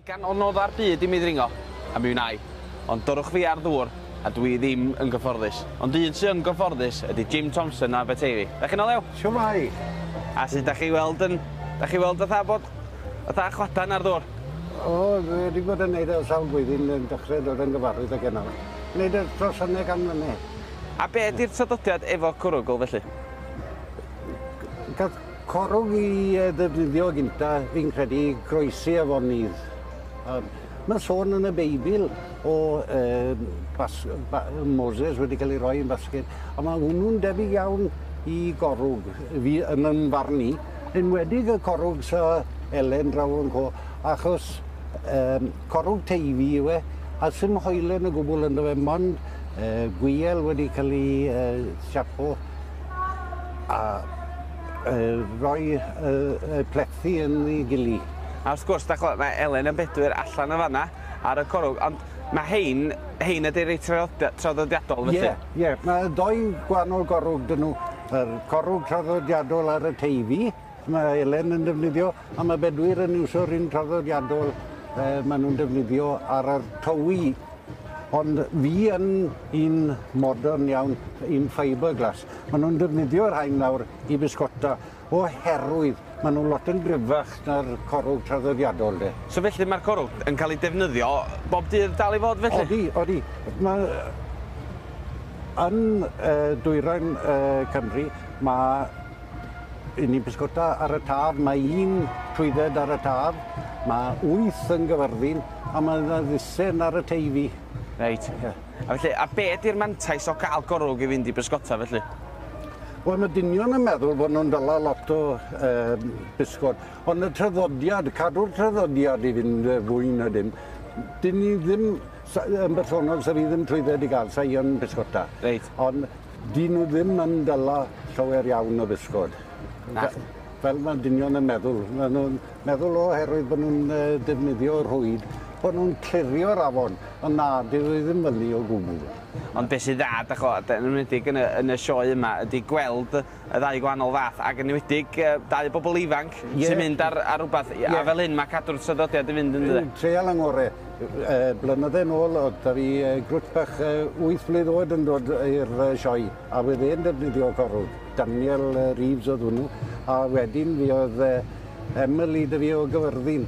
Gan o nodda'r byd i mi ddringo, a mi wnai. Ond dyrwch fi ar ddŵr, a dw i ddim yn gyfforddus. Ond un sy yn gyfforddus ydi Jim Thompson o Aberteifi. Da chi'n o lew? Shwmae! A sut da chi weld yn... Da chi weld fatha bod... fatha chwadan ar ddŵr? O, dwi wedi bod yn neud o sawl blwyddyn yn dechre dod yn gyfarwydd ag enw. Neud y trosane gan mlyne. A be di'r traddodiad efo cwrwgl felly? Gath corwg i yy ddefnyddio gynta fi'n credu i groesi afonydd a ma'n sôn yn y Beibl o yy bas- yy ba- yy Moses wedi ca'l ei roi yn basged a ma' hwnnw'n debyg iawn i gorwg fi yn yn farn i, enwedig y corwg sy' Elen draw yn co achos yym corwg Teifi yw e a sim hoelen o gwbwl ynddo fe mond yy gwiel wedi ca'l i yy siapo. a rhoi y plethi yn ei gilydd. A wrth gwrs, dach ch'mod, mae Elen a Bedwyr allan yn fan'na ar y corwg, ond mae hein, hein ydy'r rei traddodiadol felly? Ie, ie, mae dou gwahanol gorwg 'da nhw, yr corwg traddodiadol ar y Teifi, Mae Elen yn defnyddio a mae Bedwyr yn iwsio'r un traddodiadol e, maen nhw'n defnyddio ar yr towi. Ond fi yn un modern iawn, un fiberglass. Maen nhw'n defnyddio'r rhain nawr i bisgota oherwydd maen nhw'n lot yn gryfach na'r corwg traddodiadol de. So felly mae'r corwg yn cael ei defnyddio bob dydd dal i fod felly? Odi, odi. Mae yn uh, dwyrain uh, Cymru mae 'yn ni'n pysgota ar y Taf, mae un trwydded ar y Taf, mae wyth yn Gyfyrddin, a mae yna ddusen ar y Teifi. Reit. Ie. A felly, a be ydy'r mantais o gael gorwg i fynd i bysgota felly? Wel, mae dynion yn meddwl bod nhw'n dala lot o um, bysgod, ond y traddodiad, cadw'r traddodiad i fynd fwy na dim, dyn ni ddim yn bersonol, sa fi ddim trwydded i gael, sa i yn bysgota. Reit. Ond Dyn nhw ddim yn dala llawer iawn o bysgod. Na. Fel mae dynion yn meddwl. Mae nhw'n meddwl oherwydd bod nhw'n defnyddio rhwyd, bod nhw'n clirio'r afon, ond na, dyw e ddim felly o gwbl. Ond beth sy'n dda, dach chibod, yn enwedig yn y sioe yma, ydy gweld y ddau gwahanol fath ac yn enwedig yy dau bobl ifanc Ie. sy'n mynd ar ar rwbath Ie. a fel hyn ma' cadw'r traddodiad yn fynd yndyfe? Yn treial yn ngore. Yy blynydde nôl o'dd 'da fi yy grŵt bach yy wyth mlwydd oed yn dod i'r yy sioe a wedd e'n defnyddio corwg. Daniel yy Reeves o'dd hwnnw a wedyn fuodd yy Emily 'da fi o Gyfyrddin